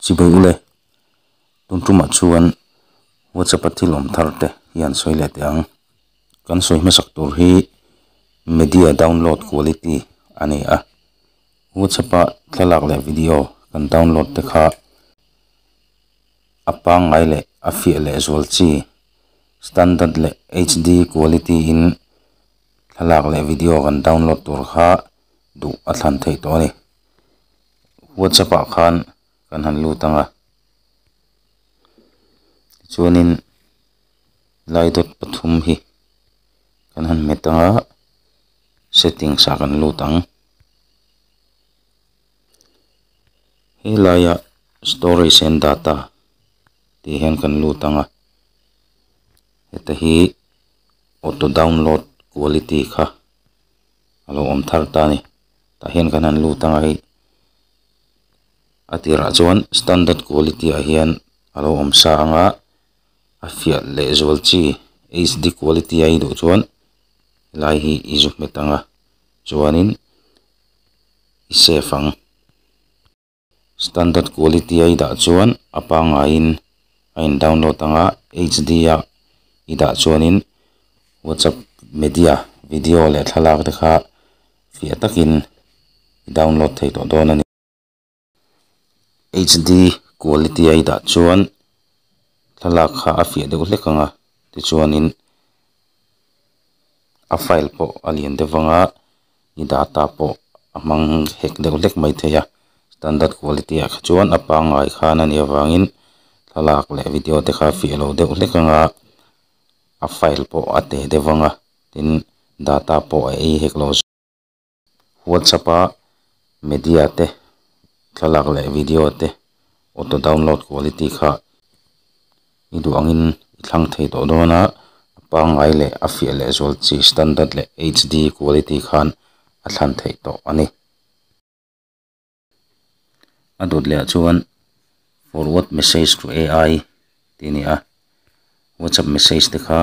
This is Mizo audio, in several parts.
Chi beih u le. Tun tumah chuan WhatsApp a thil awm thar te hi an sawi leh teh ang. Kan sawi hmasak tur hi media download quality a ni a. WhatsApp a thlalak leh video kan download te kha a pangngai leh a fiah leh zual chi standard leh HD quality in thlalak leh video kan download tur kha duh a thlan theih tawh a ni. WhatsApp ah khan kan han lut anga tichuanin lai dawt pathum hi kan han met anga settings ah kan lut ang he laia storage and data tih hian kan lut anga heta hi auto download quality kha. a lo awm thar ta a ni tah hian kan han lut ang a hei a tirah chuan standard quality ah hian a lo awm sa ang a a fiah leh zual chi hd quality a iduh chuan helai hi i zu hmet ang a chuanin i safe ang. Standard quality a i dah chuan a pangaiin a in download ang a, HD a i dah chuanin WhatsApp media, video leh thlalak te kha fiah takin i download thei tawh dawn a ni. HD quality a i dah chuan thlalak kha a fiah deuh hlek ang a, tichuanin a file pawh a lian deuh vang a. i data pawh a hmang hek deuh hlek mai thei a standard quality ah kha chuan a pangngai khan a nih avangin thlalak leh video te kha a fiah lo deuh hlek ang a a file pawh a teh deuh vang a tin data pawh a ei hek lo zual whatsapp a media te thlalak leh video te auto download quality kha i duh angin i thlang thei tawh dawn a, a pangngai leh a fiah lehzual chi standard leh HD quality khan a thlan theih tawh a ni. A dawt lehah chuan Forward message to AI tih a ni a, WhatsApp message te kha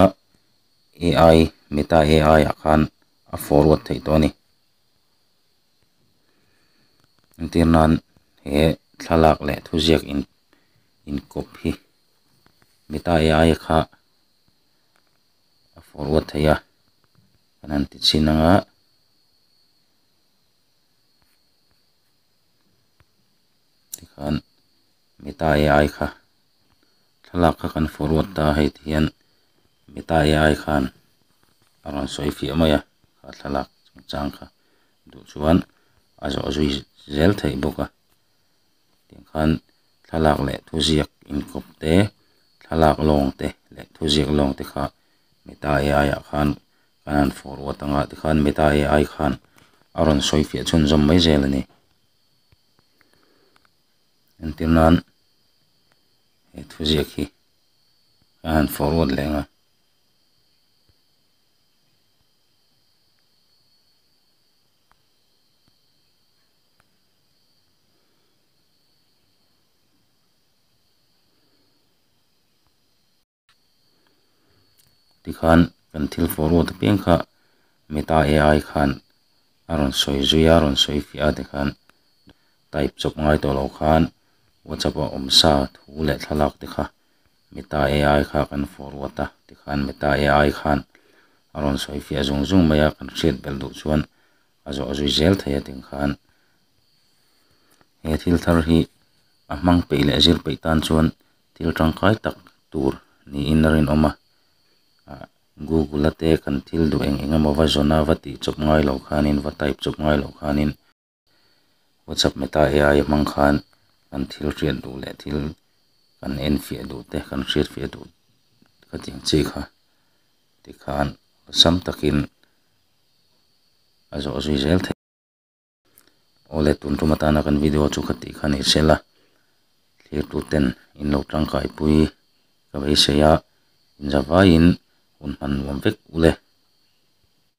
AI, Meta AI ah khan a forward theih tawh a ni. Entirnan he thlalak leh thuziak in. inkawp hi Meta Eaia kha a forward theih a kan han ti chin ang a. Tikhan Meta Eaia kha thlalak kha kan forward ta a hei ti hian Meta Eaia khan a rawn sawi fiah mai a a thlalak chung chang kha duh chuan a zawh zui zel theih bawk a. Tiang khan thlalak leh thuziak inkawpte, thlalak lawngte leh thuziak lawngte kha Meta AI ah khan kan han forward anga tikhan Meta AI khan a rawn sawi fiah chhunzawm mai zel a ni. Entir nan he thuziak hi kan han forward leh anga. tikhan kan thil fawh ruat piang kha meta ai khan a rawn sawi zui a a rawn sawi fiah a tikhan type chawp ngai tawh loh khan whatsapp ah awm sa thu leh thlalak te kha meta ai kha kan fawh ruat a tikhan meta ai khan a rawn sawi fiah zung zung mai a kan hriat belh duh chuan-- a zawh zui zel thei a ting khan he thil thar hi a hmang peih leh a zir peih tan chuan thil tangkai tak tur niin a rinawm a ah google ate kan thil duh eng eng emaw va zawn a va tih chawp ngai lo khanin va type chawp ngai loh khanin whatsapp meta ai a hmang khan kan thil hriat duh leh thil kan en fiah duh te kan hriat fiah duh ka tih ang chi kha tikhan awlsam takin. a zawh zui zel thei a aw le tun tum atana kan video chu ka tih khan i hrisel a thlir tu ten in lo tangkai pui ka beisei a inzavaiin hun hman nuam vek u le.